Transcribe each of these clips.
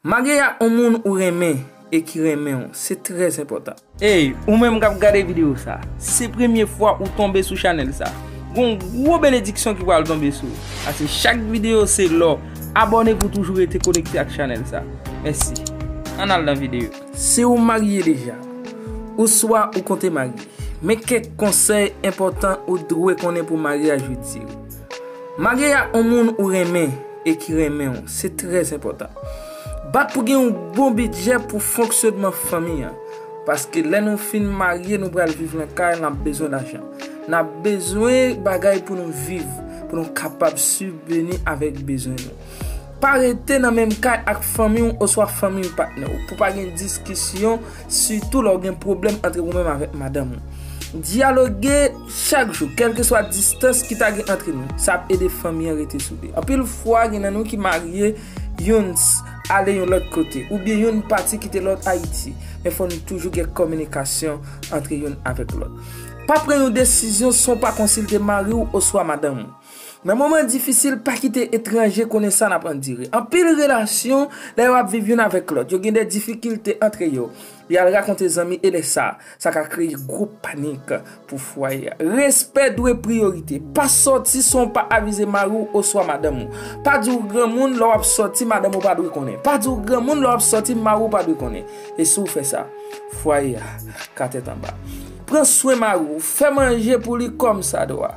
Marye a on moun ou renmen e ki renmenw se trè enpòtan. Ey ou menm kap gade video sa, se premye fwa ou tonbe sou chanèl sa, gon gwo benediksyon ki pral tonbe sou ou, pase chak video se lò, abòne pou toujou rete konekte ak chanèl sa. Mèsi. Ann al nan video. Si ou marye deja, ouswa ou konte marye, men kèk konsèy enpòtan ou dwe konnen pou maryaj ou dire. Marye ak yon moun ou renmen e ki renmen w, se trè enpòtan. Bat pou gen yon bon bidjè pou fonksyonman fanmi an. Paske lè nou fin marye nou pral viv nan kay, n ap bezwen lajan. N ap bezwen bagay pou nou viv, pou nou kapab sibveni avèk bezwen nou. Pa rete nan menm kay ak fanmi w oswa fanmi patnè w pou pa gen diskisyon. Sitou lè w gen pwoblèm antre ou menm avèk madanm ou. Dyaloge chak jou, kèlkeswa distans ki ta gen antre nou. Sa ap ede fanmi an rete soude. Anpil fwa, gen nan nou ki marye, youn ale yon lòt kote, oubyen youn pati kite lòt Ayiti. Men fò nou toujou gen kominikasyon antre youn avèk lòt. Pa pran yon desizyon san w pa konsilte mari w oswa madanm ou. Nan moman difisil, pa kite etranje konnen sa n ap andire. Anpil relasyon, lè yo ap viv youn avèk lòt, yo gen de difikilte antre yo. Li al rakonte zanmi e lè sa, sa ka kreye gwo panik pou fwaye a. Respè dwe priyorite. Pa sòti san w pa avize mari w oswa madanm ou. Pa di w granmoun lè w ap sòti madanm ou pa dwe konnen. Pa di w granmoun lè w ap sòti mari w pa dwe konnen. E si w fè sa, fwaye a ka tèt anba. Pran swen mari w. Fè manje pou li kòmsadwa.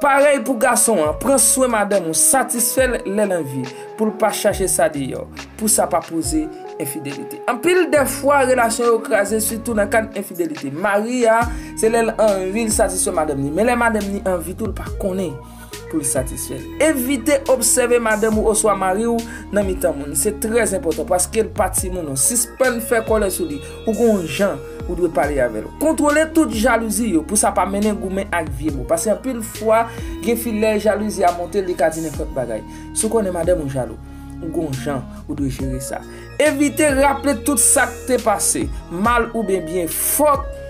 Parèy pou gason an, pran swen madanm ou, satisfè l lè l anvi, pou l pa chache sa deyò, pou sa pa poze enfidelite. Anpil dè fwa, relasyon yo kraze sitou nan kad enfidelite. Mari a, se lè l anvi l satisfè madanm li, men lè madanm li anvi tou l pa konnen pou l satisfè l. Evite obsève madanm ou oswa mari ou nan mitan moun, se trè enpòtan paske l pa timoun non. Sispann fè kòlè sou li, Ou gen yon jan ou dwe pale avè l. Kontwole tout jalouzi yo pou sa pa mennen goumen ak vye mo. Pase anpil fwa gen fi lè jalouzi a monte li ka di nenpòt bagay. Si w konnen madanm ou jalou, ou gen yon jan ou dwe jere sa. Evite raple tout sa k te pase, mal oubyen byen. Fòk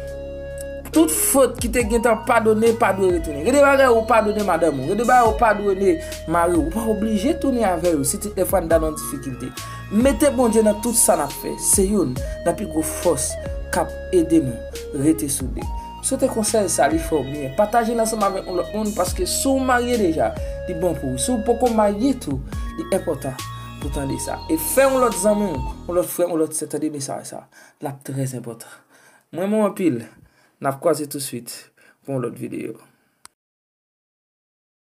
tout fot ki te gentan padone pa dwe retounen. Gen de bagay ou padone madanm ou, gen de bagay ou padone mari w. Ou pa oblije tounen avè yo si ti tnèfwa n ta nan difikilte. Mete Bondye nan tout sa nap fè se youn nan pi gwo fòs kap ede nou rete soude. Sote konsèy sa li fèw byen. Pataje l ansanm avèk yon lòt moun paske si w marye deja li bon pou ou. Si w poko marye tou li enpòtan pou w tande sa. E fè yon lòt zanmi w, yon lòt frè, yon lòt sè tande mesaj sa. Lap trè enpòtan. M renmen w anpil. Nap kwaze tousuit pou yon lòt videyo.